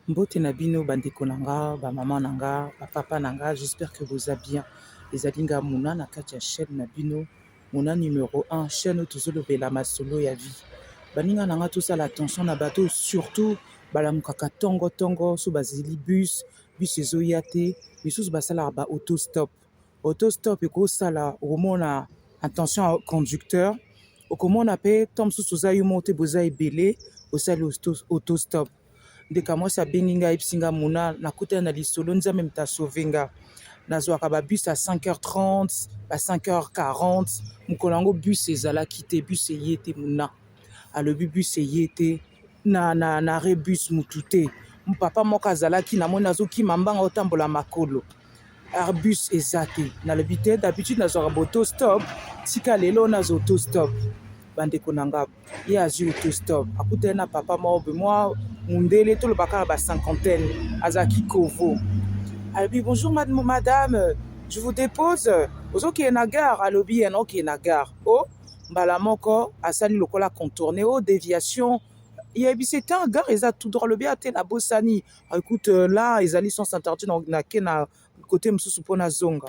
Mbote na bino ba ndeko na nga ba maman na nga ba papa na nga j'espère que boza bien ezali nga Muna na kati ya chaîne na bino Muna numero 1 chaîne oyo tozolobela masolo ya vie baninga na nga tosala attention na bato surtout balamukaka tongo tongo so bazeli bus bus ezoya te misusu basalaka ba auto stop auto stop ekosala okomona attention ya conducteur okomona pe temps mosusu oza yo moko te boza ebele osali auto stop ndeka mwasi abengi nga ayebisi nga mona nakutana na lisolo nzambe moto asauve nga nazwaka ba bus ya 5h30 ba 5h40 mokolo yango bus ezalaki te bus eye te mona alobi bus eye te na, na, na rebus mutu te papa moko azalaki namoni azokima mbanga otambola makolo arbus eza te nalobi te d'habitude nazwaka baauto stop tika lelo nazwa auto stop bandeko na nga ye azwi auto stop akutani na papa moko boye mwa mundele toloba kaka ba cinquantaine azalaki kovo alobi bonjour madame je vous dépose ozokende na gare alobi ye naokende na gare o oh, mbala moko asali lokola contourne o oh, déviation yebisi ete ah, gare eza tout droit alobi ate ah, nabosani écoute euh, là ezali sens interdit nake na kote mosusu mpo nazonga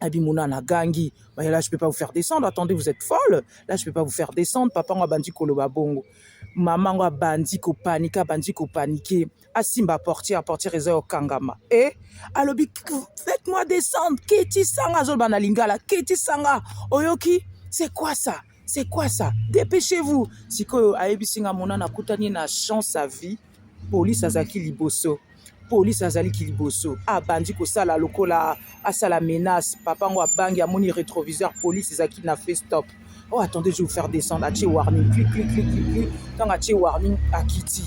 Abimona na gangi mais là je peux pas vous faire descendre attendez vous êtes folle là je peux pas vous faire descendre papa ngo abandi koloba bongo mama ngo abandi kopanike abandi kopanike asimba portière portière eza yo kangama e eh? alobi faites moi descendre kitisanga azoloba na lingala kitisanga oyoki c'est quoi ça C'est quoi ça? Dépêchez-vous. Sikoyo ayebisi nga mona nakutani na chance à vie. Police azaki liboso. Police azali ki liboso. Abandi kosala lokola asala menace. Papa ngo abangi amoni rétroviseur police ezaki na face stop. Oh attendez, je vais vous faire descendre. Atie warning. Clic clic clic clic clic. Tant atie warning akiti.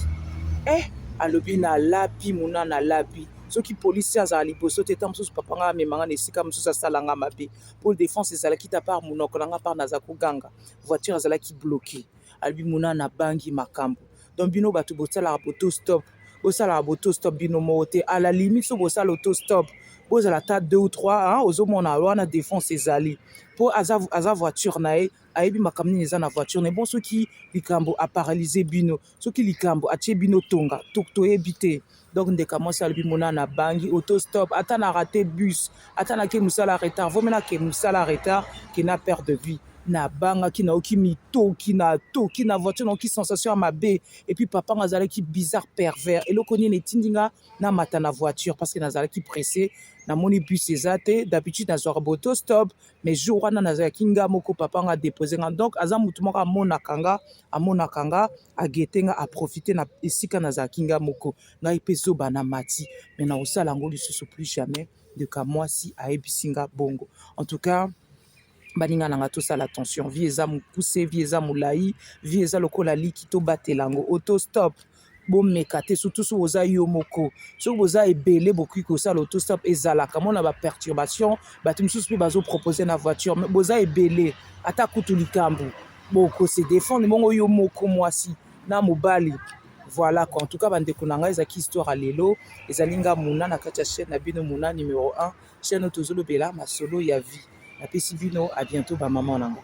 Eh, alobi na lapi mona na lapi. soki polisi azala liboso te ntango mosusu papa ngai amema ngai na esika mosusu asala ngai mabe pole defense ezalaki ta par munoko na nga par naza koganga voiture azalaki bloqué alobi muna na bangi makambo donc bino bato bosalaka boto stop bosalaka boto stop bino moko te à la limite so bosala auto stop bozala ata deux ou trois hein, ozomona wana defense ezali mpo aza, aza voiture na ye ayebi makambo nini eza na voiture na ye bon soki likambo aparalyse bino soki likambo atie bino tonga toyebi te donc ndeka mwasi alobi mona na bangi auto stop ata na rate bus ata nake mosala retard vomi nake mosala retard ke na perte de vie nabangaki nayoki mitoki natoki na voiture nayoki sensation ya mabe epuis papa nga azalaki bizarre pervers eloko nini etindi nga namata na voiture parce que nazalaki presse namoni bus eza te d'habitude nazwaka boto stop mais jour wana nazalaki nga moko papa nga depose nga donc aza motu moko amonaka nga amonaka nga a guetter nga a profiter na esika nazalaki nga moko ngai pe zoba na mati mais na kosala yango lisusu plus jamais de kamwasi ayebisi nga bongo en tout cas baninga na nga tosala attention vie eza mokuse vie eza molai vie eza lokola liki tobatela yango auto stop bomeka te surtout soki oza yo moko soki boza ebele bokoki kosala autostop ezalaka mona baperturbation bato mosusu mpe bazopropose na voiture me boza ebele ata kutu likambo bokose defendre bongo yo moko mwasi na mobali voilà quoi en tout cas bandeko na ngai ezalaki histoire ya lelo ezali nga mona na kati ya chaîne na bino mona numero 1 chaîne oyo tozolobela masolo ya vie napesi bino a bientôt bamama na ngai